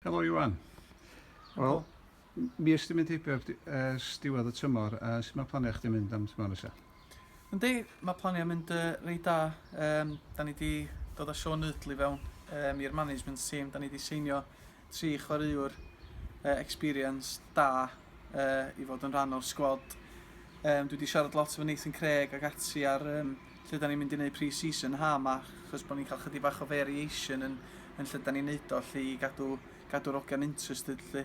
Helo Iwan. Wel, mi ysdi mynd heibio ers diwedd y tymor, a sut mae planiau chdi mynd am tymor nesaf? Yndi, mae planiau mynd uh, reit da. Um, da ni wedi dod â Sean Nutley fewn um, i'r management team. Da ni wedi seinio tri chwaraewr uh, experience da uh, i fod yn rhan o'r sgwad. Um, dwi wedi siarad lot efo Nathan Craig ac ati ar um, lle dan ni'n mynd i neud pre-season ha ma chos bo ni'n ca'l chydig bach o variation yn yn lle dan ni'n neud o lly i gadw gadw'r ogia'n interested lly.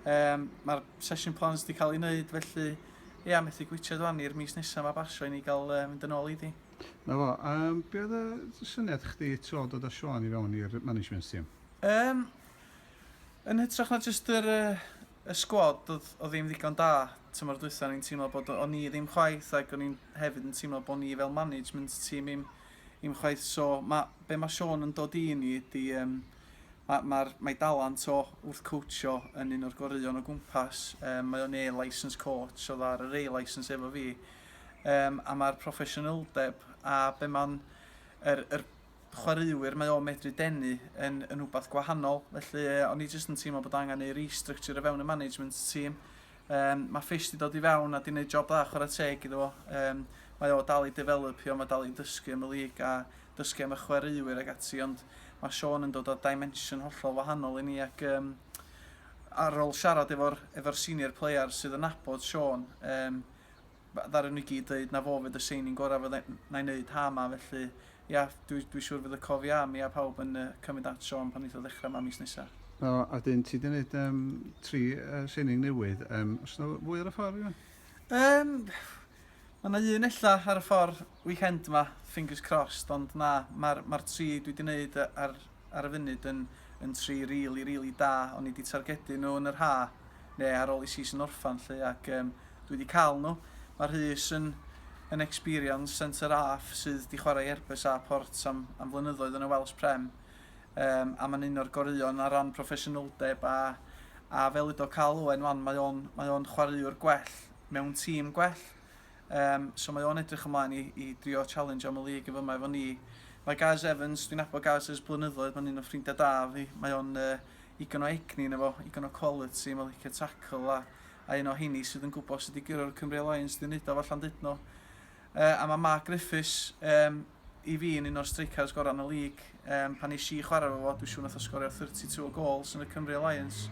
Yym ma'r session plans di ca'l i neud felly ia methu gwitsiad wan i'r mis nesa ma basio i ni ga'l yy mynd yn ôl iddi. Na fo, yym be oedd y syniad chdi tro dod a Siôn i fewn i'r management team? Yym yn hytrach na jyst yr yy y sgwad oedd oedd ddim ddigon da tymor dwytha o'n i'n teimlo bod o ni ddim chwaith ac o'n i'n hefyd yn teimlo bod ni fel management tîm i'm i'm chwaith so ma' be' ma' Siôn yn dod i ni ydi yym ma' ma'r mae dalent o wrth coachio yn un o'r goreuon o gwmpas yym mae o'n A-licensed coach oedd ar yr A-licence efo fi yym a ma'r proffesiynyldeb a be' ma'n yr yr chwaraewyr mae o medru denu yn yn rhywbeth gwahanol felly yy o'n i jyst yn teimlo bod angen ei restructure o fewn y management team. Yym ma' Fish 'di dod i fewn a 'di neud job dda chwarae teg iddo fo yym mae o dal i defelopio ma' dal i dysgu am y league a dysgu am y chwaraewyr ag ati ond ma' Sean yn dod â dimension hollol wahanol i ni ac yym ar ôl siarad efo'r efo'r senior players sydd yn nabod Sean yym ddaru nhw i gyd ddeud na fo fydd y signing gorau fydda na i wneud ha ma felly ia dwi dwi siŵr fydd y cof ia mi a pawb yn uh, cymryd at Sean pan neith o ddechrau ma mis nesa. O, a dyn ti wedi gwneud um, tri uh, signing newydd. Um, os yna fwy ar y ffordd, Iwan? Um, mae yna un ella ar y ffordd. weekend ma, fingers crossed, ond na, ma'r ma'r tri dwi 'di neud ar ar y funud yn yn tri rili rili da, o'n i 'di targedu nhw yn yr ha, ne ar ôl i season orffan 'lly, ac yym dwi 'di cael nhw. Ma Rhys yn yn experience centre half sydd 'di chwarae i Erbes a Port am am flynyddoedd yn y Welsh Prem, yym a ma'n un o'r goreuon ar ran proffesiynoldeb a a fel udo Carl Owen 'wan mae o'n mae o'n chwaraewr gwell mewn tîm gwell, Yym, so mae o'n edrych ymlaen i i drio challenge am y league yn fyma efo ni. Mae Gaz Evans, dwi'n nabod Gaz ers blynyddoedd, mae'n un o'n ffrindiau da fi. Mae o'n yy igon o egni yna fo, igon o quality, mae'n licio tackle a a un o heini sydd yn gwybod sut i guro'r Cymru Alliance, dwi'n neud o falla'n dydno. Yy a mae Mark Griffiths, yym, i fi yn un o'r streicars gorau yn y lig. Um, pan eisiau i chwarae fo, dwi'n siŵr nath o sgorio 32 o gols yn y Cymru Alliance.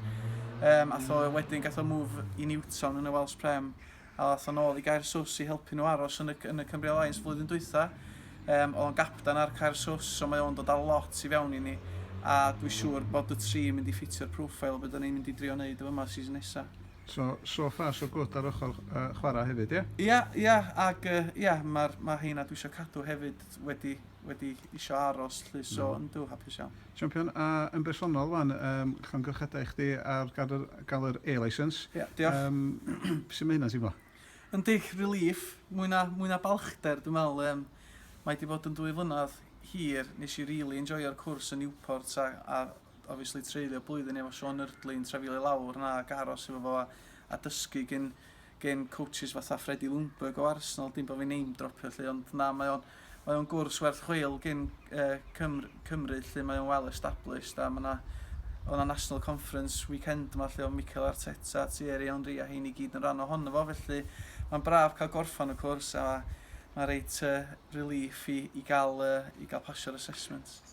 Um, ath o wedyn gath o move i Newton yn y Welsh Prem, a ath o'n ôl i Gair Sws i helpu nhw aros yn y, yn y Cymru Alliance flwyddyn dwytha. Um, oedd o'n gapdan ar Cair Sws, so mae o'n dod â lot i fewn i ni, a dwi'n siŵr bod y tri mynd i ffitio'r profile beth o'n i'n mynd i drio wneud efo yma season nesaf. So, sofa, so gwt ar ochr yy chwarae hefyd, ie? Ia, ia, ag yy ia, ma'r, ma' heina dwi isio cadw hefyd wedi, wedi isio aros 'lly, so mm. yndw, hapus iawn. Champion, a yn bersonol wan, um, llongyfchadau i chdi ar gael yr, gael yr A-licence. Ia, yeah, diolch. Um, sut mae hynna'n teimlo? Yn dig relief, mwy na, mwy na balchder, dwi'n meddwl, um, mae wedi bod yn dwy flynedd hir, nes i really enjoyo'r cwrs yn Newport a, a obviously treulio blwyddyn efo Sean Yrdley yn trefio i lawr na ac aros efo fo a, a dysgu gen, gen coaches fatha Freddie Ljungberg o Arsenal, dim bod fi'n name dropio lle, ond na, mae o'n, mae o'n gwrs werth chweil gen uh, Cymru, Cymru lle mae o'n well established a mae yna o na National Conference weekend yma lle o Mikel Arteta, Thierry Henry a hyn i gyd yn rhan ohono fo, felly mae'n braf cael gorffan y cwrs a mae reit uh, relief i, i gael, uh, i gael pasio'r assessments.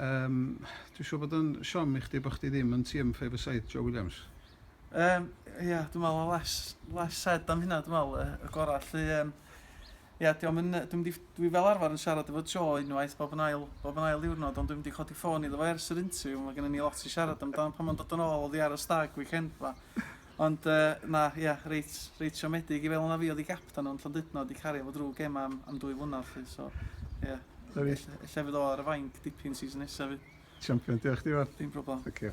Yym, dwi'n siŵr bod o'n siom i chdi bod chdi ddim yn TM Five a Side, Joe Williams. Yym, ia, dwi'n meddwl y less, less said am hynna, dwi'n meddwl, y gorau. Lly, um, ia, dwi'n mynd, dwi'n mynd, dwi fel arfer yn siarad efo Joe unwaith bob yn ail, bob yn ail ddiwrnod, ond dwi'n mynd i codi ffôn iddo fo ers yr interview, mae gennym ni lot i siarad amdano pan mae'n dod yn ôl o ddiar y stag weekend ma. Ond yy na, ia, reit reit siomedig i feddwl na fi oedd 'u gapten nhw yn Llandudno, 'di cario fo drw gemau am am dwy flynedd 'lly, so ia. Ella fydd o ar y fainc dipyn season nesa 'fyd. Champion, diolch chdi fawr. Dim problem. Thank you.